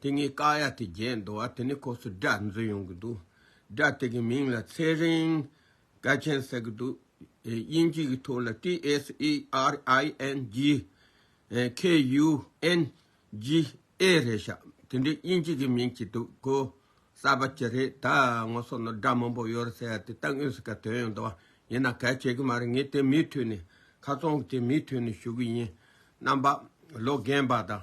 དེ་ངའི་བཀའ་ཡག་དེ་བརྒྱད་འདུག་ཨ་དེ་ནས་ཁོ་ཚོས་སྒྲ་འཛུགས་ཡོང་གི་འདུག་སྒྲ་དེ་གི་མིང་ལ་ཚེ་རིང་སྐལ་ཆེན་ཟེར་གི་འདུག་དབྱིན་ཇི་གི་ཐོག་ལ TSERINGKUNGA རེད་ཤག་དེ་འདྲའི་དབྱིན་ཇི་གི་མིང་གཅིག་འདུག་གོ་གསར་པ་ཅི་རེད་ད་ངོ་སོ་ནོ་སྒྲ་མང་པོ་ཡོད་རེད་ཟེར་ཡ་དེ་ལྟ་ངོས་ཟིག་ག་དོན་ཡོད་འདུག་ཡིན་ན་གལ་ཆེ་གི་མ་རེད་ངས་དེ་མིའི་ཐོས་ནས་ཁ་ཚོང་གི་དེ་མིའི་ཐོས་ནས་ཞུ་གི་ཡིན་རྣམ་པ་ལོ་རྒན་པ་དང།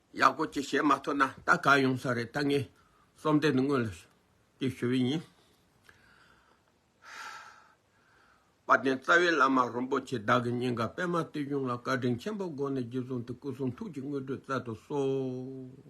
ཡག་པོ་གཅིག་བྱེད་མ་ཐུབ་ན་ད་ག་ཡོང་ས་རེད་ད་ངས་རྩོམ་དེ་འདི་སྔོན་ལ་ཅིག་ཞུ་བའི་ཡིན། བ་དན་རྩ་བའི་བླ་མ་རིན་པོ་ཆེ་བདག་གི་སྙིང་ག་པད་མ་བརྟུལ་ཞུགས་ལ་བཀའ་དྲིན་ཆེན་པོ་དགོངས་ནས་རྗེས་བཟུང་དེ་སྐུ་གསུང་ཐུགས་ཀྱི་དངོས་གྲུབ་བསྩལ་དུ་གསོལ།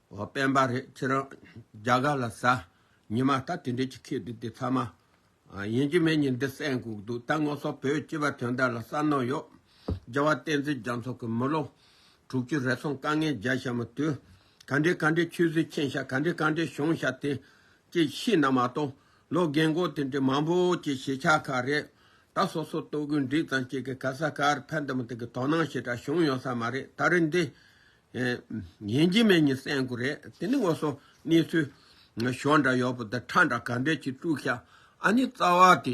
ཨོ་སྤེན་པ་རེད་ཁྱེད་རང་རྒྱ་གར་ལ་ཟ། ཉི་མ་ལྟ་དེ་འདྲས་ཀྱི་ཁྱེད་འདི་དེ་ཚ་མ། ཡིན་གྱི་མེད་ཉིན་འདི་སེམས་འགུག་འདུག་ད་སྔོ་སོག་བོད་སྤྱི་བ་དོན་དག་ལ་བསམ་མནོ་ཡོད། རྒྱལ་བ་བསྟན་འཛིན་རྒྱ་མཚོ་གི་མི་ལོ། དྲུག་ཅུ་རེ་སོང་དཀའ་ངལ་རྒྱལ་ཞབས་མི་དུས། ག་འདྲའི་ག་འདྲའི་ཆོས་བཟོས་མཁྱེན་ཞབས་ག་འདྲའི་ག་འདྲའི་གཞུང་ཞབས་དེ། ཀྱི་ཤི་ན་མ་གཏོགས་ལོ་རྒན་མགོ་དེ་འདྲའི་མང་པོ་ཀྱི་གཞིས་ཆགས་ཁག་རེད། ད་སོ་སོ་ལྟོ་གོས་འགྲིག་ཙང་ཀྱི་གི་ག་ས་གར་ཕན་དུ་མི་ཐུག་གི་དོ་སྣང་ཞེ་དྲག་བྱུང་ཡོང་ས་མ་རེད་ད་རེ་འདི། ཡིན་གྱི་མེད་གཉིས་སེམས་དགུ་རེད་དེ་ནི་ངོ་སོ་གནས་ཚུལ། ཞོ་འདྲ་ཡོག་པོ་དང་ཁྲ་འདྲ་ག་འདྲས་ཀྱིས་དཀྲུགས་ཤག་ཨ་ནི་རྩ་བ་དེ་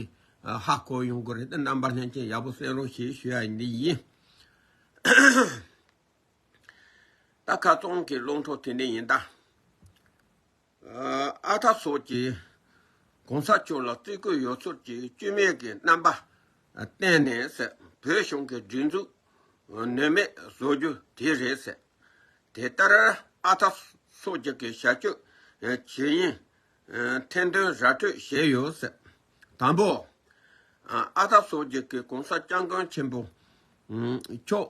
ཧ་གོ་ཡོང་དགོས་རེད་དེ་རྣམ་པ་ལྷན་ཅིག་ཡག་པོ་སེམས་རོགས་ཞེས་ཞུ་ཡ་ཡིན་འདི་ཡིན། ད་ཁ་བཙོང་གི་བླུན་ཕྲུག་དེ་འདྲས་ཡིན་ད། ཨ་ཐ་སོགས་ཀྱིས ྋགོང་ས་མཆོག་ལ་བརྩི་བཀུར་ཡོད་ཚོར་གྱིས་བཅོས་མིན་གྱི་རྣམ་པ་བསྟན་ནས་བོད་གཞུང་གི་སྒྲིག་འཛུགས་ནུས་མེད་བཟོ་རྒྱུ་དེ་རེད། དེ་ལྟར་ཨ་ཐ་སོགས་ཀྱི་གིས་བྱ་སྤྱོད་ཇི་ཡིན་ཐེར་འདོན་ར་སྤྲོད་བྱས་ཡོད། དང་པོ། ཨ་ཐ་སོགས་ཀྱི་གིས ྋགོང་ས ྋསྐྱབས་མགོན་ཆེན་པོ་མཆོག།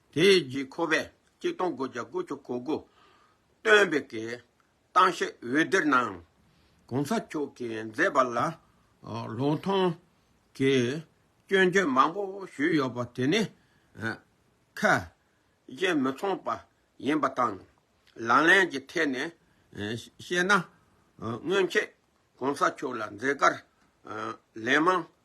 དེ་རྗེས་ཁོ་བས་གཅིག་སྟོང་དགུ་བརྒྱ་དགུ་ཅུ་གོ་དགུ། སྟོན་པའི་གི། ཏང་ཤེ་འོད་སྡེར་གནང། གོང་ས་མཆོག་གིས་མཛད་པ་ལ། ལོག་མཐོང། གི། སྐྱོན་བརྗོད་མང་པོ་ཞུས་ཡོད་པ་དེ་ནི། ཁ། གཞན་མི་མཚུངས་པ་ཡིན་པ་དང། ལག་ལེན་གྱི་ཐད་ནས་བཤད་ན། སྔོན་ཆད་གོང་ས་མཆོག་ལ་མཛད་དཀར། ལན་མང་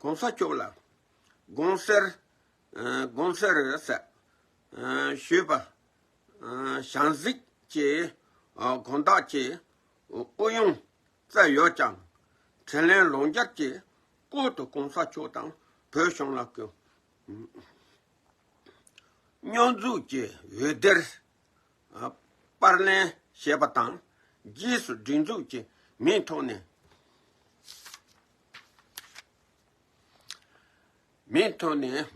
གོང་ས་མཆོག་ལ་དགོངས་སེལ་དགོངས་སེལ་རེད་ཟེར། ཞུས་པ། ཞང་གཟིགས་ཀྱིས་དགོངས་དག་གྱིས་ཨུ་ཡོན་བཙལ་ཡོད་ཀྱང་དྲན་ལན་ལོང་རྒྱག་གྱིས་བསྐུར་དུ་གོང་ས་མཆོག་དང་བོད་གཞུང་ལ་སྐྱོ་སྨྱོ་འཛུགས་ཀྱི་འོད་སྡེར་པར་ལེན་བྱས་པ་དང་རྗེས་སུ་སྒྲིག་འཛུགས་ཀྱི་མིང་ཐོག་ནས། མེད་དོ་ནས།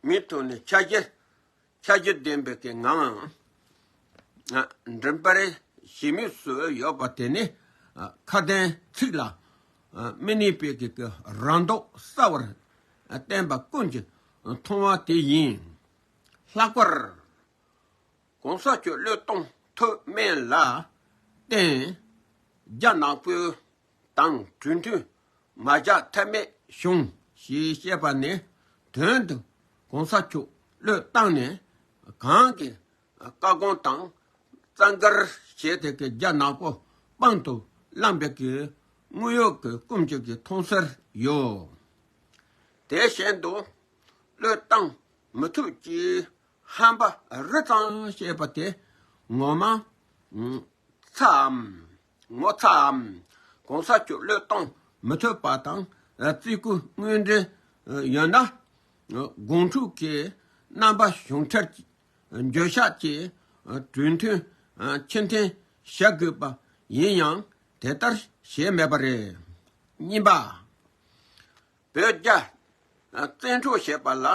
མེད་དོ་ནས་ཆ་རྒྱ་ཆ་རྒྱ་ལྡན་པའི་གི་ང་འདྲེན་པར་ཞི་མི་སུ་ཡོད་པ་དེ་ནི་ཁ་དན་ཚིག་ལ་མི་གནས་པའི་གི་རང་མདོག་གསལ་བར་བསྟན་པ་ཀུན་གྱི་མཐོང་བ་དེ་ཡིན། ལྷག་པར། གོང་ས་ཁྱོད་བློས་གཏོང་ཐུབ་མེད་ལ་བརྟེན། རྒྱ་ནག་པོའི་དང་གྲོས་མཐུན་མ་བཞག་ཐབས་མེད་བྱུང་ཞེས་བཤད་པ་ནི་དོན་དུ་གོང་ས་ཁྱོད་བློས་བཏང་ནས་གང་གི་བཀའ་དགོངས་དང་རྩ་འགལ་བྱས་ཏེ་ཀྱི་རྒྱ་ནག་པོ་དཔང་དུ་བླངས་པའི་ཀྱི་དངུལ་གཡོག་གི་སྐུམ་བཅུག་གི་མཐོང་གསལ་ཡོད། དེ་བཞིན་དུ་བློས་བཏང་མི་ཐུབ་ཀྱི་ཧམ་པ་རི་གཙང་ཞེས་པ་དེ་ངོ་མ། ཚ་འམ། ངོ་ཚ་འམ། གོང་ས་མཆོག་བློས་གཏོང་མི་ཐུབ་པ་དང་བརྩི་བཀུར་དངོས་འབྲེལ་ཡོད་ན། དགོང་དྲུག་གི་རྣམ་པ་གཞུང་འཁྲལ་འགྱོད་བཤགས་ཀྱིས་གྲོས་མཐུན་ཕྱིར་འཐེན་བྱ་དགོས་པ་ཡིན་ཡང་དེ་ལྟར་བྱས་མེད་པ་རེད། གཉིས་པ། བོད་རྒྱ། བཙན་འཕྲོག་བྱས་པ་ལ་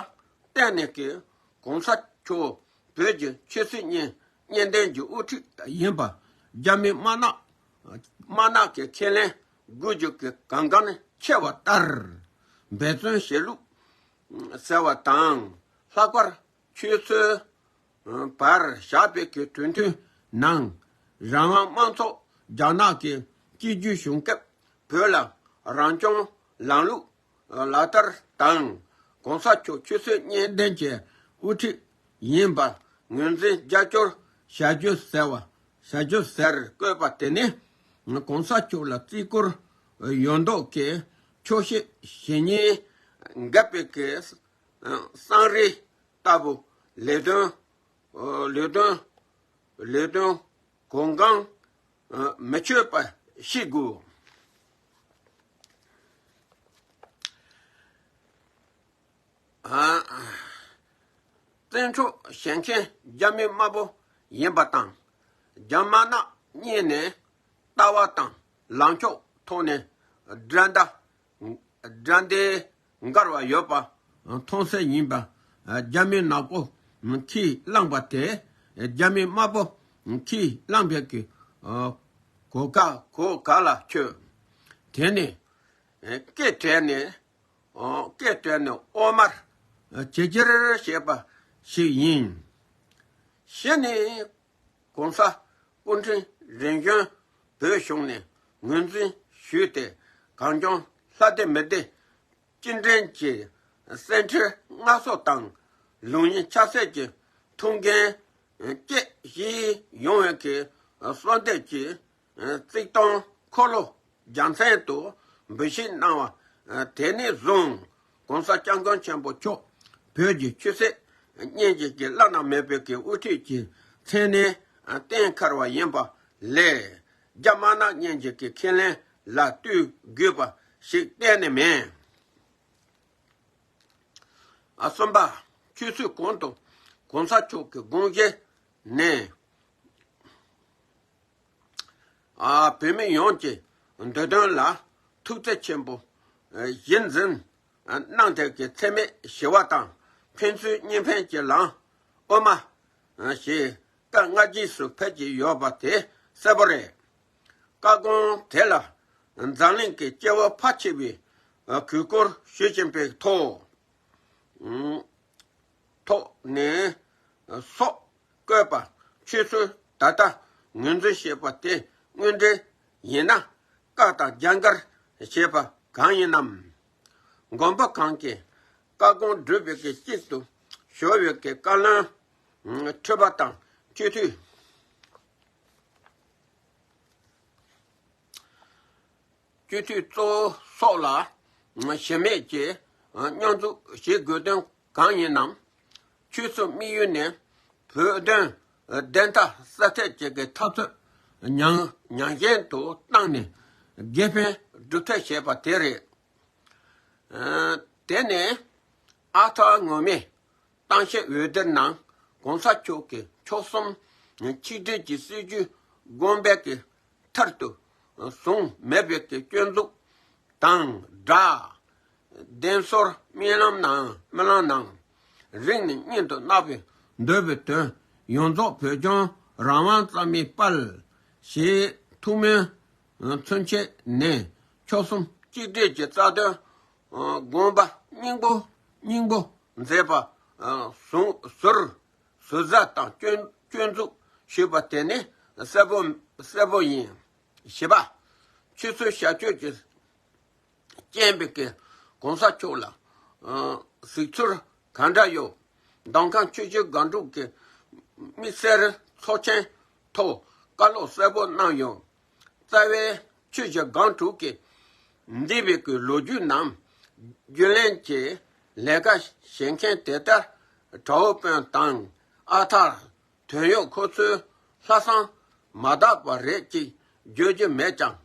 བརྟེན་ནས་ཀྱི ྋགོང་ས་མཆོག་བོད་ཀྱི་ཆོས་སྲིད་གཉིས་གཉེན་ལྡན་གྱི་དབུ་ཁྲིད་ཡིན་པ་རྒྱ་མི་དམར་ནག་དམར་ནག་གི་ཁས་ལེན་དགོས་རྒྱུ་གི་གང་གང་ནས་ཆེ་བ་ལྟར་འབད་བརྩོན་བྱས་ལུགས་ཟེར་བ་དང། ལྷག་པར་ཁྱོད་ཚོའི་བར་བཞག་སྤེལ་གྱི་གྲོས་མཐུན་ནང་རང་དབང་དམངས་ཚོགས་རྒྱ་ནག་གི་སྤྱི་རྒྱུད་བྱུང་སྐབས་བོད་ལ་རང་སྐྱོང་ལམ་ལུགས་ལག་བསྟར་དང ྋགོང་ས་མཆོག་ཆུ་ཚོད་གཉིས་ལྡན་གྱི་དབུ་ཁྲིད་ཡིན་པར་ངོས་འཛིན་རྒྱ་སྐྱོར་བྱ་རྒྱུ་ཟེར་བ་བྱ་རྒྱུ་ཟེར་བཀོད་པ་དེ་ནི ྋགོང་ས་མཆོག་ལ་བརྩི་བཀུར་ཡོད་མདོག་གིས་ཆོག་ཤེས་བྱེད་ཉེས་འགལ་སྤེལ་གྱི་གསང་རིས་ལྟ་བུ་ལས་དོན་གོ་འགངས་མི་སྤྱོད་པ་ཤེས་དགོས། བཙན་འཕྲོག་བྱེད་མཁན་རྒྱ་མི་དམར་པོ་ཡིན་པ་དང་རྒྱ་དམར་ནག་གཉིས་ནས་ལྟ་བ་དང་ལངས་ཕྱོགས་ཐོག་ནས་འགྲན་ཟླ་དགྲ་འདི་མགར་བ་ཡོད་པ་མཐོང་སའི་ཉིན་པ་རྒྱ་མི་ནག་པོ་ཁྱིས་བླངས་པ་དེ་རྒྱ་མི་དམར་པོ་ཁྱིས་བླངས་པའི་གི་གོ་ག་གོ་ག་ལ་ཁྱོད་དེ་ནས་སྐད་བྲལ་ནས་སྐད་བྲལ་ནས་ཨོ་མར་ཇེ་ཇེར་བྱས་པ་ཞིག་ཡིན་ཞེས་ནི། ྋགོང་ས ྋསྐུ་ཕྲེང་རིམ་བྱོན་བོད་གཞུང་ནས་ངོས་འཛིན་ཞུས་ཏེ་གངས་ལྗོངས་ལྷ་སྡེ་མི་སྡེ་སྤྱི་འགྲན་གྱི་གསེར་ཁྲིར་མངའ་གསོལ་དང་ལུང་ཡིན་ཆབ་སྲིད་ཀྱི་ཐུགས་འགན་བཅས་བཞེས་ཡོང་བའི་གསོལ་འདེབས་ཀྱི་རྩིག་སྟོང་འཁོར་ལོ་རྒྱལ་མཚན་དུ་འབུལ་བཞེས་གནང་བ། དེ་ནས་བཟུང ྋགོང་ས ྋསྐྱབས་མགོན་ཆེན་པོ་མཆོག་བོད་ཀྱི་ཆོས་སྲིད་གཉིས་བརྒྱུད་ཀྱི་བླ་ན་མེད་པའི་དབུ་ཁྲིད་ཀྱི་མཚན་གནས་བསྟན་འཁར་བ་ཡིན་པ་ལས་རྒྱ་དམར་ནག་གཉིས་བརྒྱུད་ཀྱི་ཁས་ལེན་ལ་བཏུལ་དགོས་པ་ཞིག་གཏན་ནས་མེད། གསུམ་པ། ཆོས་ཚུལ་གོང་དུ ྋགོང་ས་མཆོག་གི་དགོངས་བཞེད་ནི། བོད་མི་ཡོངས་ཀྱི་འདོད་དོན་ལ་ཐུགས་བརྩེ་ཆེན་པོ་བཞིན་འཛིན། སྣང་མཐའི་གི་འཚེ་མེད་ཞི་བ་དང་ཕན་ཚུན་གཉིས་ཕན་གྱི་ལངས་དབུ་མ། ཞེས་བཀའ་སྔ་རྗེས་སུ་ཕེབས་ཀྱི་ཡོད་པ་དེ་གསལ་པོ་རེད། བཀའ་དགོངས་དེ་ལ་འཛམ་གླིང་གི་སྐྱེ་བོ་ཕ་ཁྱི་བས་གུས་བཀུར་ཞུ་བཞིན་པའི་ཐོག། ཐོག་ནས། སོགས་བཀོད་པ་ཆོས་ཚུལ་ད་ལྟ་ངོས་འཛིན་བྱེད་པ་དེ་དངོས་འབྲེལ་ཡིན་ན། བཀག་དང་རྒྱ་འགལ་བྱེད་པ་གང་ཡིན་ནམ། དགོན་པ་གང་གི་བཀའ་དགོངས་སྒྲུབ་པའི་གི་གཅིག་ཏུ་གཞོལ་བའི་གི་བཀའ་བློན་ཁྲི་པ་དང་སྤྱི་འཐུས། སྤྱོད་ཚུལ་གཙོ་བོ་སོགས་ལ་ཞེན་མེད་ཀྱིས་སྙོམས་འཛུགས་བྱེད་དགོས་དོན་གང་ཡིན་ནམ། ཆོལ་གསུམ་དམིགས་ཡུལ་ནི་བོད་དོན་བདེན་མཐའ་གསལ་ཐད་བྱེད་ཀྱི་འཐབ་རྩོད་ཉག་ཉགཞན་དུ་བཏང་ནས་དགེ་ཕན་སྒྲུབ་ཐབས་བྱེད་པ་དེ་རེད། དེ་ནི་ཨ་ཐར་ངོ་མས། གཏམ་བཤད་འོད་སྡེར་ནང ྋགོང་ས་མཆོག་གིས་མཆོག་གསུམ་ཆིག་སྒྲིལ་གྱི་སྲིད་ཇུས་དགོངས་པའི་མཐར་ཐུག་བཟུང་མེད་པའི་སྐྱོན་འཛུགས་དང་སྦྲགས། བདེན་ཚོར་རྨི་ལམ་ནང་རིང་ནས་སྙིང་དུ་བརྣག་པའི་འདོད་པའི་དོན་ཡོངས་རྫོགས་བོད་ལྗོངས་རང་དབང་རྩ་མེད་སྤེལ། ཞེས་ཐུགས་སྨོན་མཚོན་ཆེད་ནས་མཆོག་གསུམ་གཅིག་སྒྲིལ་གྱི་རྩ་དོན་དགོངས་པ་སྙིང་པོ་སྙིང་པོ་མཛད་པ། ཟུང་ཟུར་ཟུར་ཟ་དང་སྐྱོན་འཛུགས་ཞུས་པ་དེ་ནི་གསལ་པོ་གསལ་པོ་ཡིན། བཞི་པ། ཆོས་ཚུལ་བྱ་སྤྱོད་ཀྱི་སྤྱན་པས་ཀྱི་གོང་ས་མཆོག་ལ་གཟིགས་ཚུལ་ག་འདྲ་ཡོད། མདང་ཁང་ཆོས་རྗེ་སྒང་དྲུག་གི་དམིགས་བསལ་ཚོགས་ཆེན་ཐོག་བཀའ་སློབ་གསལ་པོ་གནང་ཡོད། རྩ་བའི་ཆོས་བྱ་སྒང་དྲུག་གི་འདས་པའི་གི་ལོ་རྒྱུས་རྣམས་རྒྱུན་ལེན་གྱི་ལས་ཀ་བྱེད་མཁན་དེ་ལྟར་གྲའུ་དཔོན་དང་ཨ་ཐར་དོན་ཡོད་ཁོ་ཚོའི་ལྷ་བསང་མ་དག་པ་རེད་ཅིག་བརྗོད་རྒྱུ་མེད་ཀྱང་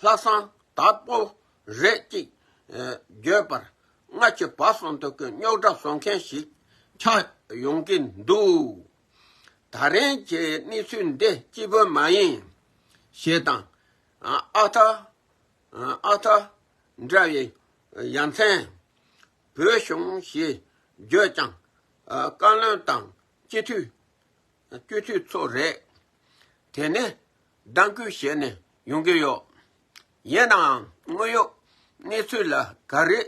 ལྷ་བསང་དག་པོ་རེད་ཅིག་བརྗོད་པར་སྔ་ཕྱི་བར་གསུམ་དུ་གི་རྙོག་གྲ་བཟོ་མཁན་ཞིག་ཆགས་ཡོང་གི་འདུག། ད་རེན་གྱི་གནས་ཚུལ་འདི་སྐྱིད་པོ་མ་ཡིན། ཞེས་དང། ཨ་ཐ། ཨ་ཐ། འདྲ་བའི་ཡ་མཚན། བོད་གཞུང་ཞེས་བརྗོད་ཀྱང། བཀའ་བློན་དང་སྤྱི་འཐུས། སྤྱི་འཐུས་ཚོ་རེད། དེ་ནི་ལྡང་སྐུལ་བྱས་ནས་ཡོང་གི་ཡོད། ཡིན་ནའང་དངོས་ཡོད་གནས་ཚུལ་ལ་ག་རེ་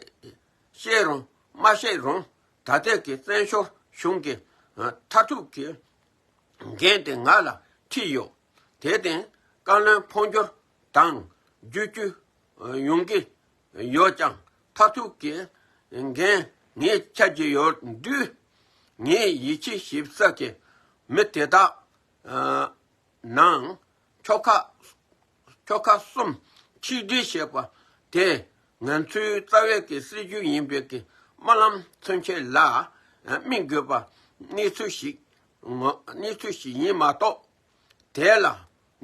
བཤད་རུང་མ་བཤད་རུང་ད་ལྟའི་གི་བཙན་བྱོལ་གཞུང་གི་མཐར་ཐུག་གི་འགན་དེ་ང་ལ་འཁྲི་ཡོད། དེ་བརྟེན་བཀའ་བློན་འཕོ་འགྱུར་དང་བརྒྱུད་སྐྱོད་ཡོང་གི་ཡོད་ཀྱང་མཐར་ཐུག་གི་འགན་ངས་འཁྱེར་གྱི་ཡོད་དུས། ངའི་ཡིད་ཆེས་ཞིབ་ཚགས་ཀྱི་མི་དེ་དག་ནང་ཁྱོ་ཁ་ཁྱོ་ག་གསུམ་ཆིག་སྒྲིལ་བྱེད་པ་དེ་ང་ཚོའི་རྩ་བའི་གི་སྲིད་ཇུས་ཡིན་པའི་གི་རྨ་ལམ་མཚོན་ཆེད་ལ་དམིགས་དགོས་པ་གནས་ཚུལ་ཞིག་གནས་ཚུལ་ཞིག་ཡིན་མ་གཏོགས་དེ་ལ་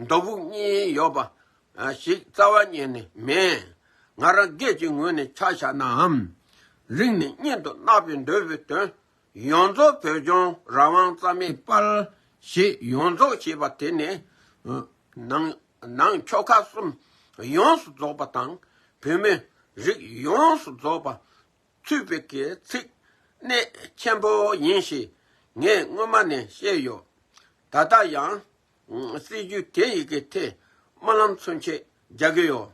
མདོ་དབུགས་གཉིས་ཡོད་པ་ཞིག་རྩ་བ་ཉིད་ནས་མེད། ང་རང་སྒེར་གྱི་ངོས་ནས་ཆ་བཞག་ནའམ་རིང་ནས་གཉེན་དུ་བརྣག་པའི་འདོད་པའི་དོན་ཡོངས་རྫོགས་བོད་ལྗོངས་རང་དབང་རྩ་མེད་སྤར། ཞེས་ཡོངས་རྫོགས་བྱས་པ་དེ་ནི། ནང་ཆོལ་ཁ་གསུམ་ཡོངས་སུ་རྫོགས་པ་དང། བོད་མི་རིགས་ཡོངས་སུ་རྫོགས་པ་ཚུད་པའི་ཚིག་གནད་ཆེན་པོ་ཡིན་ཞེས་ངས་སྔོན་མ་ནས་བཤད་ཡོད། ད་ལྟ་ཡང་སྲིད་ཇུས་དེ་ཡི་གེ་ཐེ་སྨོན་ལམ་ཚུན་ཆད་རྒྱག་གི་ཡོད།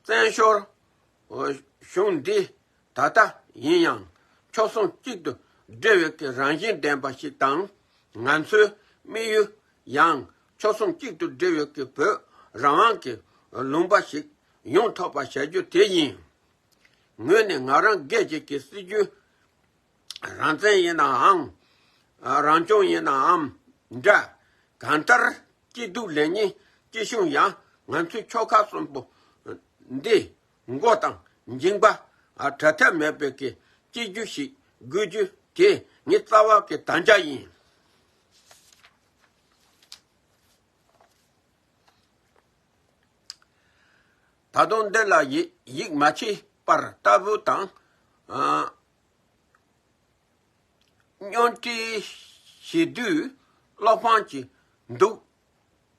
བཙན་བྱོལ་གཞུང་འདི་ད་ལྟ་ཡིན་ཡང་ཕྱོགས་ཟུང་གཅིག་ཏུ་སྒྲིལ་བའི་ཀྱི་རང་བཞིན་ལྡན་པ་ཞིག་དང། ང་ཚོའི་དམིགས་ཡུལ་ཡང་ཕྱོགས་ཟུང་གཅིག་ཏུ་སྒྲིལ་བའི་ཀྱི་བོད་རང་དབང་གི་ལུང་པ་ཞིག་ཡོང་ཐོབ་པ་བྱ་རྒྱུ་དེ་ཡིན། ངོས་ནས་ང་རང་རྒས་བྱེད་ཀྱི་སྲིད་ཇུས་རང་བཙན་ཡིན་ནའང། རང་སྐྱོང་ཡིན་ནའམ་འདྲ། གང་ལྟར་སྐྱིད་སྡུག་ལེགས་ཉེས་སྐྱིད་ཆུང་ཡང་ང་ཚོའི་ཕྱོགས་ཁག་གསུམ་པོ་འདི་མགོ་དང་མཇིང་པ་དྲ་ཐལ་མེད་པའི་སྐྱེ་རྒྱུ་ཞིག་དགོས་རྒྱུ་དེ་ངའི་རྩ་བ་ཀྱི་དམ་བཅའ་ཡིན། ད་དུང་འདི་ལ་ཡིད་མ་ཆེས་པར་ལྟ་བུ་དང། སྙོན་འཕྲི་བྱེད་དུས་བློ་ཕམ་གྱི་འདུག་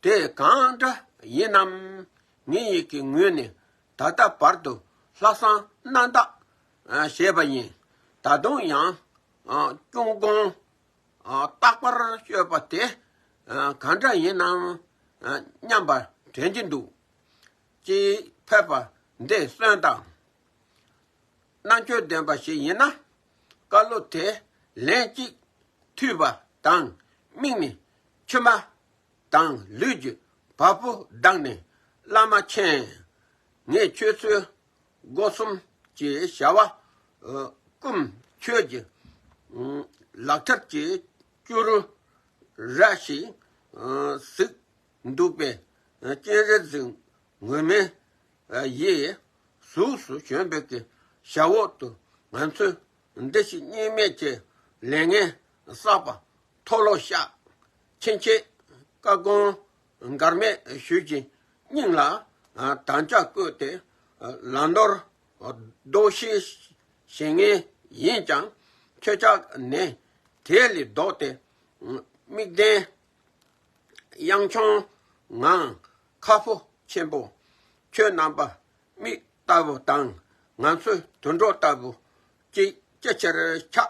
དེ་གང་འདྲ་ཡིན་ནམ། ངའི་ཡིད་ཀྱི་ངོས་ནས་ད་ལྟ་བར་དུ་ལྷག་བསམ་རྣམ་དག་བྱས་པ་ཡིན། ད་དུང་ཡང་ཀུན་དགོངས་རྟག་པར་སྤྱོད་པ་དེ་གང་འདྲ་ཡིན་ནམ་སྙམ་པ་དྲན་གྱི་འདུག་སྤྱིར་ཕེབས་པ་འདི་གསོན་དང་རྣམ་དཔྱོད་ལྡན་པ་ཞིག་ཡིན་ན་བཀའ་སློབ་དེ་ལན་གཅིག་ཐུས་པ་དང་དམིགས་ནས་ཁྱོད་མ། དང་ལུས་ཀྱི་བ་སྤུ་བསྒྲགས་ནས་བླ་མ་མཁྱེན། ངས་ཁྱོད་ཚོའི་སྒོ་གསུམ་གྱི་བྱ་བ་བཀུམ། ཁྱོད་ཀྱི་ལག་ཁྲབ་ཀྱི་སྐྱུ་རུ་ར་ཞིག་གཟིགས་འདུག་པས་སྤྱན་རས་གཟིགས་ངོས་མེད་ཡི། གཟུགས་སུ་བྱོན་འབེབས་ཀྱི་ཞབས་འོག་ཏུ་ང་ཚོས་འདི་ཞིག་གཉིས་མེད་ཀྱི་ལས་ངན་བསགས་པ་མཐོ་ལོ་ཤག། ཕྱིན་ཆད་བཀའ་དགོངས་འགར་མེད་ཞུས་ཀྱི་སྙིང་ལ་དམ་བཅའ་བཀོད་དེ་ལམ་ནོར་ལྡོག་ཤེས་བྱེད་ངེས་ཡིན་ཀྱང་ཁྱེད་ཅག་ནི་དེ་ལས་ལྡོག་སྟེ་དམིགས་ལྡན་གཡང་མཆོང་ངང་ཁ་ཕོ་ཆེན་པོ་ཁྱོད་རྣམ་པ་མིག་ལྟ་བུ་དང་ང་ཚོའི་དུད་འགྲོ་ལྟ་བུ་གཅིག་ཅི་ཕྱིར་ཁྱག་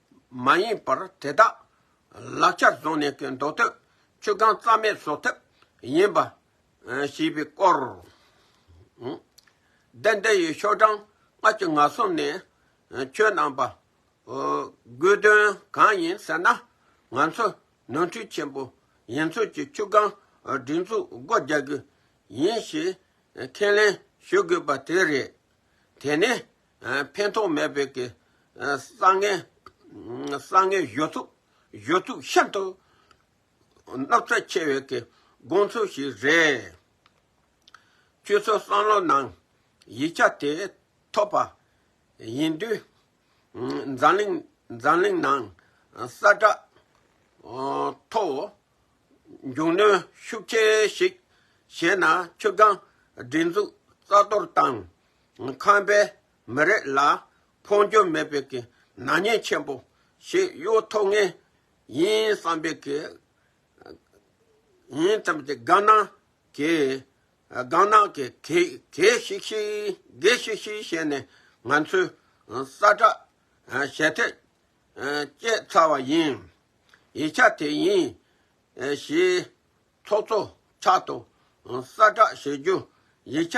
མ་ཡིན་པར་དེ་དག་ལག་ཆ་བཟུང་ནས་མདོ་སྟོད་ཆུ་སྒང་རྩ་མེད་བཟོ་ཐབས་ཡིན་པ་ཞེས་པའི་སྐོར། བདེན་བདེ་ཡི་ཤོག་གྲངས་ལྔ་ཅུ་ང་གསུམ་ནས་ཁྱོད་རྣམས་པ་དགོས་དོན་གང་ཡིན་ཟེར་ན་ང་ཚོ་ནོར་འཁྲུལ་ཆེན་པོ་ཡིན་ཚོད་ཀྱིས་ཆུ་སྒང་སྒྲིག་འཛུགས་སྒོ་རྒྱག་རྒྱུ་ཡིན་ཞེས་ཁས་ལེན་ཞུ་དགོས་པ་དེ་རེད། དེ་ནས་ཕན་ཐོགས་མེད་པའི་གི་བསང་ངན། བསང་ངན་གཞོ་ཚུགས་གཞོ་ཚུགས་ཤིན་ཏུ་སྣག་ཚ་ཆེ་བའི་གི་དགོངས་ཚུལ་ཞིག་རེད། ཁྱོད་ཚོ་བསམ་བློ་ནང་ཡིག་ཆ་དེ་ཐོབ་པ་ཡིན་དུས། འཛམ་གླིང་འཛམ་གླིང་ནང་ས་བསྒྲགས་ཐོ་བོ་མཇུག་གནོན་ཤུགས་ཆེ་ཞིག་བྱས་ན་ཆུ་སྒང་སྒྲིག་འཛུགས་རྩ་གཏོར་བཏང། ཁམས་པའི་མི་རིགས་ལ་འཕོ་འགྱུར་མེད་པའི་གི་ནག་ཉེས་ཆེན་པོ་ཞིག་གཡོ་ཐོབ་ངེས་ཡིན་བསམ་པའི་གི་ཡིན་བསམ་ཏེ་དགའ་ན་གི་དགའ་ན་གི་གེ་གེ་ཤིག་ཤིག་གེ་ཤིག་ཤིག་བྱས་ནས་ང་ཚོས་ས་བསྒྲགས་བྱས་ཐད་བསྐྱེད་ཚར་བ་ཡིན། ཡིག་ཆ་དེ་ཡིན་ཞེས་ཚོགས་གཙོ་ཕྱག་ཏུ་ས་བསྒྲགས་བྱེད་རྒྱུ་ཡིག་ཆ་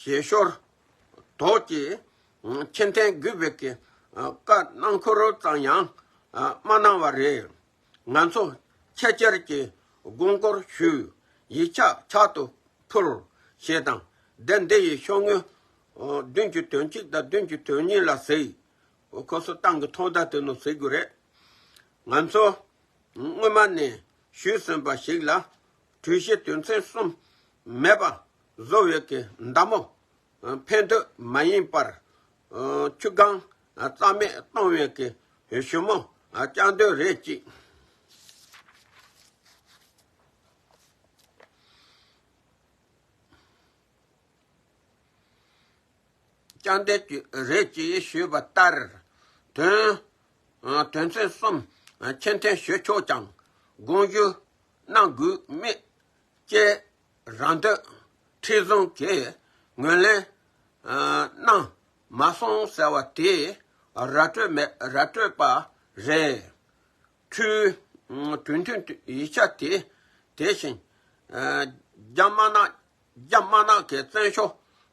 ཞལ་ཤོར། དོགས་ཀྱི། མཁྱེན་ལྡན་རྒུད་པའི་གི། བཀའ་གནང་འཁོར་ཙམ་ཡང། མ་གནང་བ་རེད། ང་ཚོ། ཁྱེད་ཅག་གི། དགོངས་སྐོར་ཞུ། ཡིག་ཆ་ཕྱག་ཏུ་ཕུལ། ཞེས་དང། སྡེ་འདི་ཡི་ཤོག་ངོས། བདུན་གྱི་དོན་གཅིག་དང་བདུན་གྱི་དོན་གཉིས་ལ་གཟིགས། ཁོ་ཚོ་ཏང་གི་ཐོག་མཐའ་དེ་ནས་གཟིགས་དགོས་རེད། ང་ཚོ། སྔོན་མ་ནས་ཞུས་ཟིན་པ་ཞིག་ལ། གྲོས་གཞི་དོན་ཚན་གསུམ་མེད་པ་བཟོ་འོས་ཀྱི་མདའ་མོ་འཕེན་འདོད་མ་ཡིན་པར། ཆུ་སྒང་རྩ་མེད་གཏོང་འོས་ཀྱི་གཞུ་མོ་རྐྱང་འདོད་རེད་ཅིག། རྐྱང་འདོད་ཅིག་རེད་ཅེས་ཞུས་པ་ལྟར། དོན་ཚན་གསུམ་ཆེ་མཐོན་ཞུས་ཆོག་ཀྱང་དགོངས་ཞུ་གནང་དགོས་མེད་བཅས་རང་འདོད་ཁྲི་བཟང་གིས་ངོས་ལེན་གནང་མ་སོང་ཟེར་བ་དེ་ར་སྤྲོད་མེད་ར་སྤྲོད་པ་རེད། འཕྲུལ་དོན་མཐུན་ཡིག་ཆ་དེ་དེ་བཞིན་རྒྱ་དམར་ནག་རྒྱ་དམར་ནག་གི་བཙན་བྱོལ་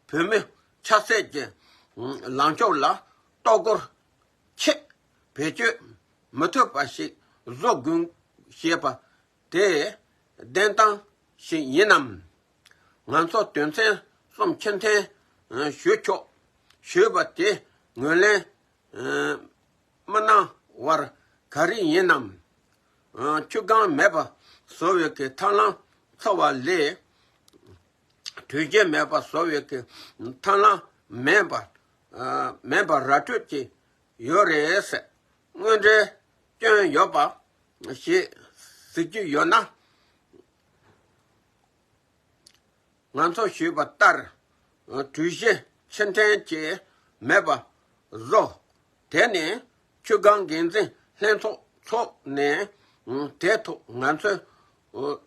བོད་མི་ཆབ་སྲིད་ཀྱི་ལངས་ཕྱོགས་ལ་གཏོར་རྒོལ་ཆེད་བེད་སྤྱོད་མི་ཐུབ་པ་ཞིག་བཟོ་དགོས་ཞེས་པ་དེ་བདེན་གཏམ་ཞིག་ཡིན་ནམ། ང་ཚོ་དོན་ཚན་གསུམ་ཕྱིར་འཐེན་ཞུ་ཆོག་ཞུས་པ་དེ་ངོས་ལེན་མི་གནང་བར་ག་རེ་ཡིན་ནམ། ཆུ་སྒང་མེད་པ་བཟོ་བའི་ཐབས་ལམ་འཚོལ་བ་ལས་དྲོད་གཞི་མེད་པ་བཟོ་བའི་ཐབས་ལམ་མེད་པ་མེད་པར་ར་སྤྲོད་ཀྱི་ཡོད་རེད། དངོས་འབྲེལ་སྐྱོན་ཡོད་པ་ཞིག་གཟིགས་རྒྱུ་ཡོད་ན། ང་ཚོ་ཞུས་པ་ལྟར་གྲོས་གཞི་ཕྱིར་འཐེན་བྱས་མེད་པ་བཟོ། དེ་ནས་ཆུ་སྒང་འགན་འཛིན་ལྷན་ཚོགས་འཚོགས་ནས་དེ་ཐོག་ང་ཚོས་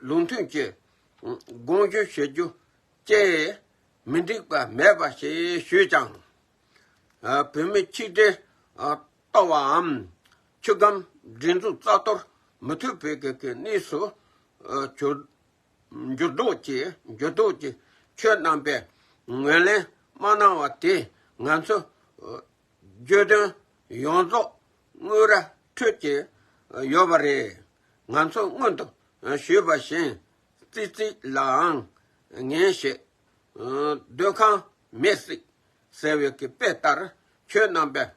ལུགས་མཐུན་གྱི་དགོངས་ཞུ་ཞུ་རྒྱུ་ཅེས་མི་འགྲིག་པ་མེད་པ་ཞེས་ཞུས་ཀྱང། བོད་མི་ཆིག་སྒྲིལ་ལྟ་བའམ་ཆུ་སྒམ་སྒྲིག་འཛུགས་རྩ་གཏོར་མི་མཐུད་བོད་དགེ་གི་གནས་སུ་གྱུར། འགྱུར་ལྡོག་ཀྱི་འགྱུར་ལྡོག་ཀྱི་ཆོས་རྣམ་པའི་ངོས་ལེན་མ་གནང་བ་དེས་ང་ཚོའི་བརྗོད་དོན་ཡོངས་རྫོགས་དངུལ་ར་འཕྲོད་ཀྱི་ཡོད་པ་རེད། ང་ཚོས་སྔོན་དུ་ཞུས་པ་བཞིན་ཙི་ཙི་ལའང་ངན་ཞེས། འདོད་ཁམས་མེས་སྲིད་ཟེར་བའི་དཔེ་ལྟར་ཁྱོད་རྣམ་པས་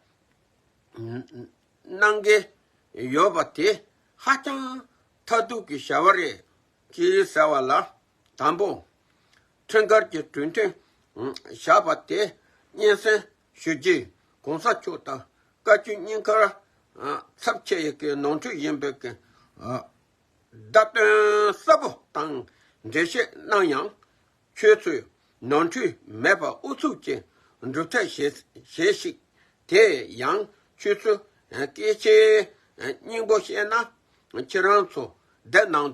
གནང་གི་ཡོད་པ་དེ་ཧ་ཅང་མཐའ་གཏུགས་ཀྱི་བྱ་བ་རེད། ཅེས་ཟེར་བ་ལ་དང་པོ། ཁྲིམས་འགལ་གྱི་གྲོས་མཐུན་བཞག་པ་དེ་སྙན་སེང་ཞུ་རྗེས་གོང་ས་མཆོག་དང་བཀའ་བཅུ་གཉིས་ཀར་ཚབ་བྱེད་ཀྱི་ནོར་འཁྲུལ་ཡིན་པའི་བརྡ་དོན་གསལ་པོ་དང་འགྲེལ་བཤད་གནང་ཡང་ཁྱོད་ཚོས་ནོར་འཁྲུལ་མེད་པར་ཨུ་ཚུགས་ཀྱིས་འགྲུབ་ཐབས་བྱེད་ཤིག་དེ་ཡང་ཁྱོད་ཚོས་སྐད་ཆའི་སྙིང་པོ་ཤེས་ན་ཁྱེད་རང་ཚོ་བདེ་སྣང་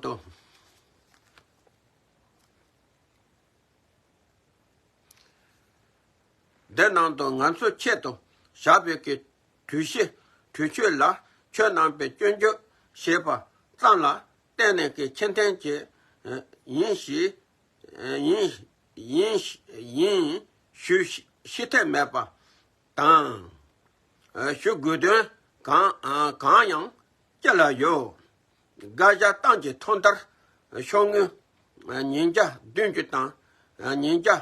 དང། ང་ཚོ་ཆེད་དུ་ཞབས་པད་ཀྱི་དུས་བཞི། དུས་ཆོས་ལ། ཆོས་རྣམ་པའི་སྐྱོན་བརྗོད། ཞེས་པ། ཙམ་ལ། བརྟེན་ནས་ཀྱི་ཁྱད་མཐུན་གྱི། ཡིན་ཞེས། ཡིན། ཡིན། ཡིན། ཞུ། ཤི་འཐད་མེད་པ། དང། ཞུ་དགོས་དོན། གང། གང་ཡང། སྐྱེ་ལ་ཡོད། བསྒ་བཞག་སྟངས་ཀྱི་ཐོག་མཐར། ཤོག་ངོས། ཉིན་བརྒྱ་བདུན་ཅུ་དང། ཉིན་བརྒྱ།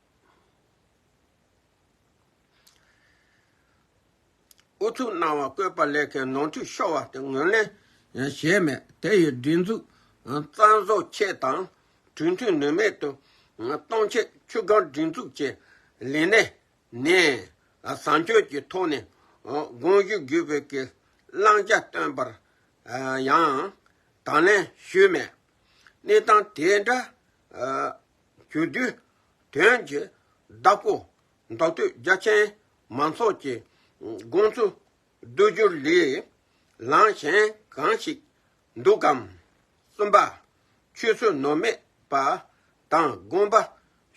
ཨུ་ཚུགས་གནང་བ་བཀོད་པ་ལས་ཁའི་ནོར་འཁྲུལ་ཤོར་བ་དེ་ངོས་ལེན་བྱས་མེད་དེ་ཡི་སྒྲིག་འཛུགས་གཙང་བཟོ་ཆེད་དང་གྲོས་མཐུན་ནུས་མེད་དུ་གཏོང་ཆེད་ཆུ་སྒང་སྒྲིག་འཛུགས་ཀྱི་ལས་གནས་ནས་བཟང་སྤྱོད་ཀྱི་ཐོག་ནས་དགོངས་ཞུ་བརྒྱུད་བོད་ཀྱི་བླང་བྱ་བཏོན་པར་ཡང་དང་ལེན་ཞུས་མེད་གནས་སྟངས་དེ་འདྲ་རྒྱུ་དུས་དོན་གྱི་བདག་པོ་མདོ་སྟོད་རྒྱ་ཆེན་མང་ཚོགས་ཀྱི་དགོངས་ཚུལ་བསྡུ་རྒྱུར་ལི་ལང་གཞན་གང་ཞིག་འདུག་གམ། གསུམ་པ། ཆོས་སྲོལ་ནོར་མེད་པ་དང་དགོངས་པ་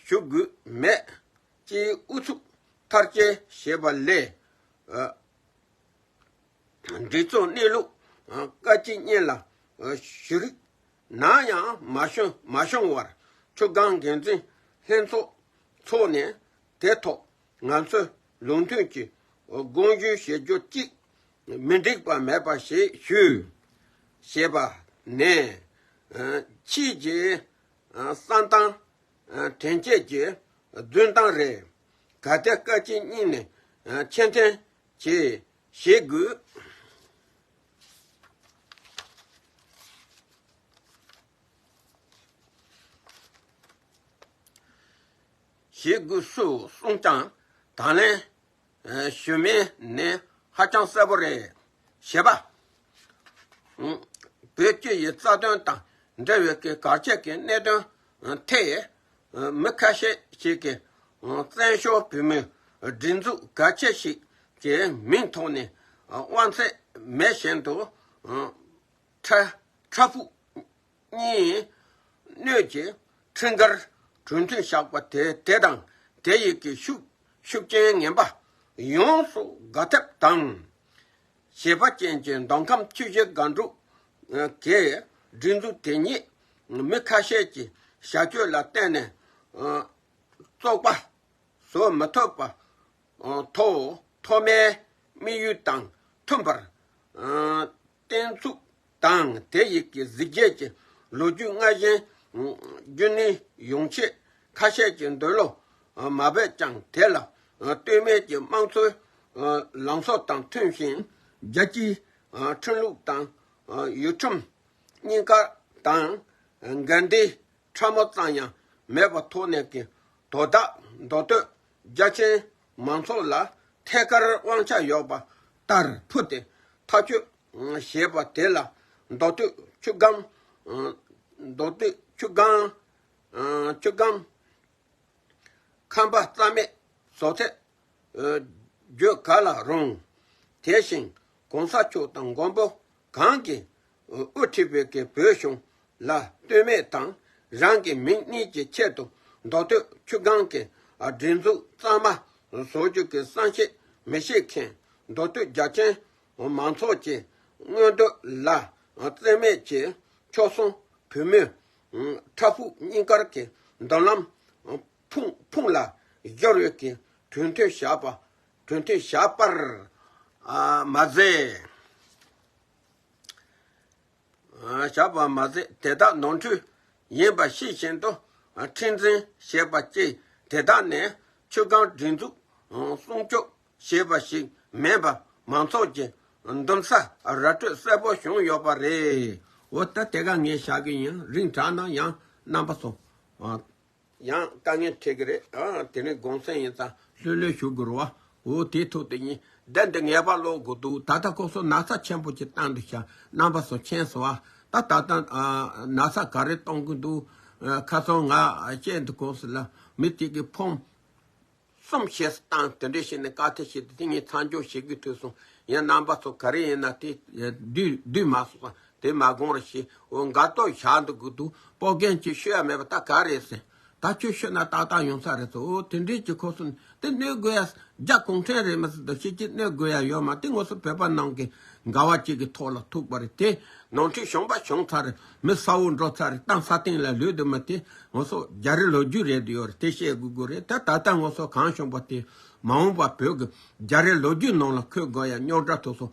ཞུ་དགོས་མེད་སྤྱིའི་ཨུ་ཚུགས་མཐར་སྐྱེལ་བྱེད་པ་ལས། འདི་ཚོ་གནས་ལུགས་བཀའ་སྤྱི་གཉེན་ལ་ཞུ་རིགས་ན་ཡང་མ་ཤོང་མ་ཤོང་བར་ཆུ་སྒང་འགན་འཛིན་ལྷན་ཚོགས་འཚོགས་ནས་དེ་ཐོག་ང་ཚོས་ལུགས་མཐུན་གྱི་དགོངས་ཞུ་ཞུ་རྒྱུ་གཅིག་མི་འགྲིག་པ་མེད་པ་ཞིག་ཞུ། ཞེས་པ་ནས། ཕྱིས་ཀྱི་གསང་སྟངས་དྲན་བསྐྱེད་ཀྱི་རྫུན་སྟངས་རེ་ག་སྟེ་བཀའ་སྤྱི་གཉིས་ནས་མཁྱེན་ལྡན་གྱིས་ཞིག་དགོས། ཞེས་སྒོས་སུ་གསུངས་ཀྱང་དང་ལེན། ཞུས་མིན་ནི་ཧ་ཅང་གསལ་པོ་རེད། ཞེས་པ། བོད་སྤྱི་ཡི་རྩ་དོན་དང་འབྲེལ་བའི་གལ་ཆེ་གི་གནད་དོན་ཐད། མི་ཁ་ཤས་ཤིག་གིས་བཙན་བྱོལ་བོད་མིའི་སྒྲིག་འཛུགས་ག་ཁྱད་ཞིག་གི་མིང་ཐོག་ནས་དབང་ཚད་མེད་བཞིན་དུ་ཁྲ་ཕུག་གཉིས་སྣོད་ཀྱི་འཕྲིན་སྐར་གྲོས་མཐུན་བཞག་པ་དེ་དེ་དང་དེ་ཡི་གི་ཤུགས་ཤུགས་རྐྱེན་ངན་པ་ཡོངས་སུ་དགག་ཐབས་དང། བྱེད་པ་ཅན་གྱི་མདོ་ཁམས་བཅུ་བཞི་སྒང་དྲུག་གི་སྒྲིག་འཛུགས་དེ་ཉིད་མི་ཁ་ཤས་ཀྱི་བྱ་སྤྱོད་ལ་བརྟེན་ནས་བཙོག་པ་བཟོ་མི་ཐུབ་པ་ཐོག་མཐོ་དམན་དམིགས་ཡུལ་དང་མཐུན་པར་བརྟན་ཚུགས་དང་དེ་ཡི་གེ་གཟིགས་རྒྱས་ཀྱི་ལོ་རྒྱུས་ལྔ་གཞན། རྒྱུན་ནི་ཡོང་ཆེད་ཁ་ཤས་ཀྱི་འདོད་བློ་མ་བས་ཀྱང་དེ་ལ་ལྟོས་མེད་ཀྱི་དམངས་འཚོའི་ལངས་ཕྱོགས་དང་མཐུན་ཞིང། རྒྱལ་སྤྱིའི་ཁྲིམས་ལུགས་དང་ཡུལ་ཁྲིམས་གཉིས་ཀ་དང་འགལ་འདྲིས་ཕྲ་མོ་ཙམ་ཡང་མེད་པ་ཐོག་ནས་ཀྱི་དོ་བདག་མདོ་སྟོད་རྒྱ་ཆེན་མང་ཚོགས་ལ་ཐད་ཀར་དབང་ཆ་ཡོད་པ་ལྟར་ཕུལ་ཏེ་མཐའ་དཔྱོད་ཞེས་པ་དེ་ལ་མདོ་སྟོད་ཆུ་སྒང། མདོ་སྟོད་ཆུ་སྒང། ཆུ་སྒང། ཁམས་པ་རྩ་མེད་བཟོ་ཚད། བརྗོད་ག་ལ་རུང། དེ་བཞིན་གོང་ས་མཆོག་དང་མགོན་པོ་གང་གིས་དབུ་ཁྲིད་བོད་ཀྱི་བོད་གཞུང་ལ་ལྟོས་མེད་དང་རང་གི་མིང་གཉིས་ཀྱི་ཆེད་དུ་མདོ་སྟོད་ཆུ་སྒང་གི་སྒྲིག་འཛུགས་གཙང་མ་བཟོ་རྒྱུ་གི་བསམ་ཤེས་མི་ཤེས་མཁན་མདོ་སྟོད་རྒྱ་ཅན་མང་ཚོགས་ཀྱི་མངོན་འདོད་ལ་བརྩི་མེད་ཀྱིས་ཕྱོགས་མཚུངས་བུད་མེད་ཕྲ་ཕུགས་གཉིས་ཀར་གྱི་མདུན་ལམ་ཕུང་ལ་སྦྱོར་ཡུལ་གྱི་གྲོས་མཐུན་བཞག་པར་མ་ཟད། དེ་དག་ནོར་འཁྲུལ་ཡིན་པ་ཤེས་བཞིན་དུ་ཁྲིམས་འཛིན་བྱས་པ་བཅས་དེ་དག་ནི་ཆུ་སྒང་སྒྲིག་འཛུགས་སྲུང་སྐྱོབ་ཞེས་པ་ཞིག་མེད་པར་མང་ཚོགས་ཀྱི་འདུམ་ས་ར་སྤྲོད་གསལ་པོ་བྱུང་ཡོད་པ་རེད། འོ་ད་དེ་ག་ངས་བཞག་གི་ཡིན་རིང་དྲག་ན་ཡང་རྣམ་པ་སོང་བ། ཡང་དཀའ་ངལ་འཕྲད་གི་རེད་དེ་ནས་དགོངས་སེལ་ཡིན་ཙང་ལྷོད་ལྷོད་ཞུ་དགོས་རུ་བ། འོ་དེའི་ཐུགས་དེ་ཉིན་བདེ་འདི་ངེས་པར་ཀློག་དགོས་འདུག་ད་ལྟ་ཁོ་སོ་ན་ཚ་ཆེན་པོ་ཅིག་བཏང་འདུག་བྱ་རྣམ་པ་སོ་མཁྱེན་སོང་བ་ད་ད་ལྟ་ན་ཚ་ག་རེ་གཏོང་གི་འདུག་ཁ་སང་ང་བཅས་འདི་གོང་ས་ལ་མི་གཅིག་གིས་ཕོངས། གསུམ་བཤད་སྲོལ་དང་དེ་འབྲེལ་བྱས་ནས་བཀའ་གཏེར་བཤད་དེ་དེ་ཉིད་ཚང་འཇོག་བྱེད་དགོས་ཐོས་སོང། ཡང་རྣམ་པ་ཚོ་ག་རེ་ཡིན་ན་དེ། བསྡུས་མ་སོང་ཙང་དེ་མ་དགོངས་ར་ཞེས་འོ་འགའ་ཏོག་བཞག་འདུག་གི་འདུག་སྤོ་རྒན་གྱིས་ཤོད་ཡ་མེད་པ་ད་ག་རེ་ཟེར། ད་ཁྱོད་ཤོད་ན་ཏག་ཏག་ཡོང་ས་རེད་ཟེར་འོ་དེ་འབྲེལ་གྱི་ཁོ་སོ་ནི་དེ་གནོད་དགོས་ཡ་རྒྱ་གུང་ཁྲན་རེད་མི་སྲིད་དོ་ཤེས་ཀྱི་གནོད་དགོས་ཡ་ཡོད་མ་དེ་ངོ་སོ་བོད་པ་ནང་གི་འགའ་བ་གཅིག་གི་ཐོག་ལ་ཐུག་པ་རེད་དེ་ནང་ཁྲིགས་གཞོངས་པ་བྱུང་ཚར་རེད། མི་ས་འོག་འགྲོ་ཚར་རེད་གཏམ་ས་སྟེང་ལ་ལུས་འདི་མི་དེ་ངོ་སོ་རྒྱ་རི་ལོ་རྒྱུས་རེད་ཡོད་རེད་དེ་བཤད་དགོས་དགོས་རེད་ད་ད་ལྟ་ངོ་སོ་གང་བྱུང་པ་དེ་མ་འོངས་པ་བོད་ཀྱི་རྒྱ་རི་ལོ་རྒྱུས་ནང་ལ་འཁོད་དགོས་ཡ་རྙོག་དྲ་ཐོག་སོ་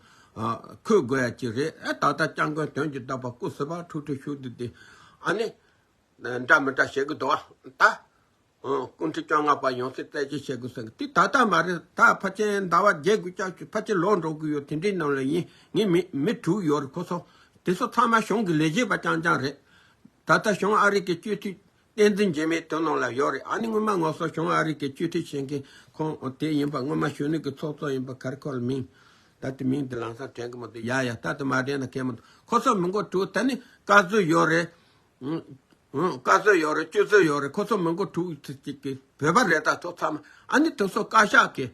འཁོད་དགོས་ཡ་ཅིག་རེད་ད་ལྟ་སྐྱབས་མགོན་དོན་གྱི་བདག་པ་སྐུ་སྲི་པ་ཁྲུག་ཁྲུག་ཤུག་དུ་དེ་ཨ་ནི་འདྲ་མི་འདྲ་བཤད་གི་འདུག་ཨ་ད། སྐུ་མཁྲིས་བཅོ་ལྔ་པ་ཡོང་སའི་རྩད་གཅོད་བྱེད་དགོས་ཟེར་གི་དེ་ད་ལྟ་མ་རེད་ད་ཕ་ཆེན་ཟླ་བ་བརྒྱད་དགུ་ལྕགས་ཀྱུ་ཕ་ཆེན་ལོག་འགྲོ་དགོས་ཡོད་དེ་འདྲའི་ནང་ལ་ཡིན་ངེས་མེད་མི་དྲུག་ཡོད་རེད་ཁོ་ཚོ་དེ་ཚོ་ཚང་མ་གཞུང་གི་ལས་བྱེད་པ་རྐྱང་རྐྱང་རེད། ད་ལྟ་གཞུང་ཨ་རིག་གི་སྤྱོད་འཐུས་བསྟན་འཛིན་རྗེས་མའི་དོན་ནང་ལ་ཡོད་རེད་ཨ་ནི་སྔོན་མ་ངོ་སོ་གཞུང་ཨ་རིག་གི་སྤྱོད་འཐུས་བྱེད་མཁན་ཁོང་དེ་ཡིན་པ་སྔོན་མ་གཞོན་ནུ་གི་ཚོགས་གཙོ་ཡིན་པ་གར་ཁོ་ལ་མིང་ད་ལྟ་མིང་དེ་ལང་སར་དྲན་གི་མི་འདུག་ཡ་ཡ་ད་ལྟ་མ་དྲན་ན་ཁེལ་མི་འདུག་ཁོ་ཚོ་མི་མགོ་དྲུག་ད་ནི་བཀའ་བཟོས་ཡོད་རེད་བཀའ་བསོད་ཡོད་རེད་སྤྱོད་བསོད་ཡོད་རེད་ཁོ་ཚོ་མི་མགོ་དྲུག་ཅིག་གིས་བོད་པ་རེད་ད་ཚོ་ཚང་མ་ཨ་ནི་དེ་ཚོ་བཀའ་ཤག་གིས་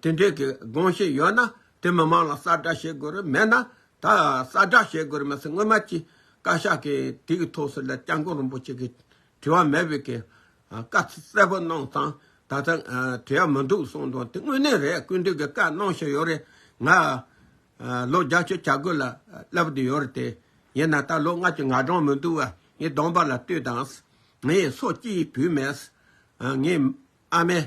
དེ་འདྲའི་གི་དགོངས་བཞེས་ཡོད་ན་དེ་མི་མང་ལ་གསར་བསྒྲགས་བྱེད་དགོས་རེད་མེད་ན་ད་གསར་བསྒྲགས་བྱེད་དགོས་རེད་མ་ཟད་སྔོན་མ་ཀྱི་བཀའ་ཤག་གིས་དེ་གི་ཐོག་སུ་ལ་སྐྱབས་མགོན་རིན་པོ་ཆེ་གིས་དྲི་བ་མེད་པའི་གི་བཀའ་གསལ་པོ་གནང་ཙང་ད་ལྟ་དྲི་བ་མི་འདུག་གསུངས་དང་དེ་དངོས་གནས་རེད་སྐུ་མདུན་གི་བཀའ་གནང་བཞིན་ཡོད་རེད་ང། ལོ་བརྒྱ་སྤྱོད་བྱ་རྒོད་ལ་བསླབ་བསྡུ་ཡོད་རེད་དེ། ཡིན་ན་ད་ལོ་སྔར་གྱི་ང་སྦྲང་མི་འདུག་བ་ངའི་གདོང་པ་ལ་ལྟོས་དང། ངའི་སོ་སྐྱེས་བུད་མེད། ངའི་ཨ་མས་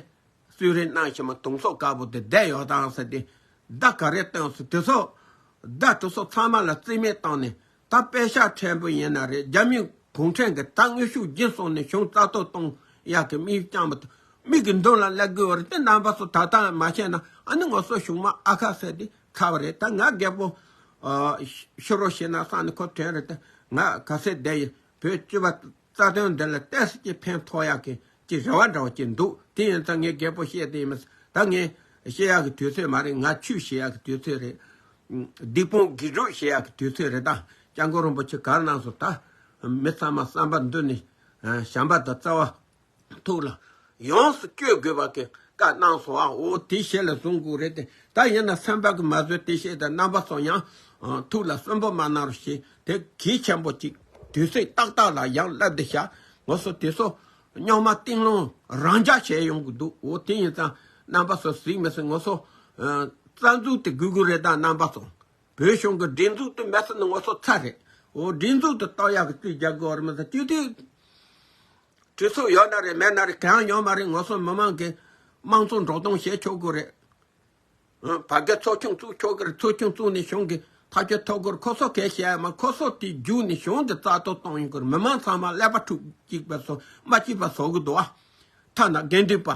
གསོས་རིན་གནང་བཞིན་པ་དུང་སོ་དཀར་པོ་དེ་བསྡད་ཡོད་དང་ཟེར་ཏེ་བརྡ་ག་རེ་བཏོན་སོང་དེ་སོགས་བརྡ་ཐུབ་སོགས་ཚང་མ་ལ་རྩིས་མེད་བཏང་ནས་ད་དཔེ་ཆ་ཕྲན་བུ་ཡིན་ན་རེད་རྒྱ་མིས་གུང་ཁྲན་གྱི་ད་དངོས་ཤུགས་རྒྱུན་སོང་ནས་གཞུང་རྩ་གཏོར་གཏོང་ཡག་གི་མིག་རྐྱང་པ་དང་མིག་གི་མདུན་ལ་ཀླད་དགུ་བར་དེ་རྣམ་པ་སོགས་ད་ལྟ་ཡང་མ་བཤད་ན་ཨ་ནི་ངོ་སོ་གཞུང་མ་ཨ་ཁ་ཟེར་དེ་ཁ་བ་རེད་ད་ང་རྒད་པོ་ཤི་རོ་ཤི་ན་སང་ནི་ཁོ་བྲན་རེད་ད་ང་ག་ཚད་བསྡད་ཡིན་བོད་སྤྱི་བ་རྩ་དོན་འདི་ལ་གཏད་སོ་ཅི་ཕན་ཐོགས་ཡག་གི་ཅི་རེ་བ་འདྲ་བ་ཅིག་འདུག་དེ་ཡིན་ཙང་ངས་རྒད་པོ་བཤད་དེ་ཡིན་མི་ད་ངས་བཤད་ཡག་གི་དུས་ཚོད་མ་རེད་ང་ཆུ་བཤད་ཡག་གི་དུས་ཚོད་རེད། སྡིག་སྤོང་དགེ་ཕྲུག་བཤད་ཡག་གི་དུས་ཚོད་རེད་ད་སྐྱ་འགོ་རིན་པོ་ཆེ་གར་སྣང་སོ་ད་མི་ཚང་མ་བསམ་པ་འདི་ནི་བྱམས་པ་དང་བརྩེ་བ། ཐུགས་ལ་ཡོངས་སུ་བསྐྱོད་དགོས་པ་གྱི་བཀའ་གནང་སོང་བའོ། དེའི་ཞལ་ལ་གཟུངས་སྐུ་རེ་སྟེ་ད་ཡིན་ན་སེམས་དཔའ་གི་མ་བཟོད་དེ་ཤེས་དང་རྣམ་པ་སོང་ཡང། ཐུགས་ལ་གསོན་པོ་མ་གནང་རོགས་ཞེས་དེ་གིས་ཆེན་པོ་གཅིག་དུས་ཚིགས་ཏག་ཏག་ལ་ཡང་བསླབ་བདེ་བྱ་དགོས་སོ་དེ་སོགས་རྙོག་མ་གཏིང་ལོང་རང་འཇགས་བྱས་ཡོང་གི་འདུག་འོ་དེ་ཡིན་ཙང་རྣམ་པ་སོ་གཟིགས་མི་སྲིད་ངོ་སོ། རྩ་འཛུགས་དེ་གུ་གུ་རེད་ད་རྣམ་པ་སོང་བོད་གཞུང་གི་སྒྲིག་འཛུགས་དེ་མེད་ས་ནི་ངོ་སོ་ཚ་རེད་འོ་སྒྲིག་འཛུགས་དེ་རྟོགས་ཡག་གི་བཅུ་བརྒྱ་དགོས་བར་མི་ཚ་བཅུ་དུས། གྲོས་ཚུགས་ཡོད་ན་རེད་མེད་ན་རེད་གང་ཡང་ཡོད་མ་རེད་ངོ་སོ་མི་མང་གི་དམངས་གཙོ་འགྲོ་སྟངས་བཤད་ཆོག་གི་རེད། བ་དགའི་ཚོགས་ཆུང་བཙུགས་ཆོག་གི་རེད་ཚོགས་ཆུང་བཙུགས་ནས་གཞུང་གི་ཐག་གཅོད་ཐོབ་གི་རེད་ཁོ་ཚོ་གས་བཤད་ཡ་མ་ཁོ་ཚོ་དེ་རྒྱུགས་ནས་གཞུང་གི་རྩ་གཏོར་གཏོང་ཡོང་གི་རེད་མི་མང་ཚང་མ་ཀླད་པ་འཁྲུགས་གཅིག་པ་སོ་མ་གཅིག་པ་བཟོ་གི་འདུག་ཨ། ཐ་ན་དགེ་འདུན་པ།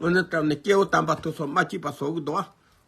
ཨོ་ན་ཏྲམ་ནས་སྐྱེ་བོ་དམ་པ་ཐུགས་སོ་མ་གཅིག་པ་བཟོ་གི་འདུག་ཨ།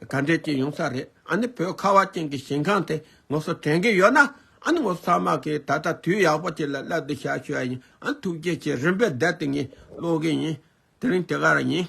ད་འདྲའི་རྐྱེན་ཡོང་ས་རེད་ཨ་ནི་བོད་ཁ་བ་ཅན་གྱི་ཞིང་ཁང་དེ་ངོ་སོ་དྲན་གྱི་ཡོད་ན་ཨ་ནི་ངོ་སོ་ཚང་མ་གིས་ད་ལྟ་དུས་ཡག་པོ་ཅིག་ལ་སླེབས་འདུག་བཤད་ཤོད་ཨ་ཡིན་ཨ་ནི་ཐུགས་རྗེ་ཆེ་རིམ་པས་བསྡད་དེ་ངས་ཀློག་གི་ཡིན་དེ་རིང་དེ་ག་རང་ཡིན།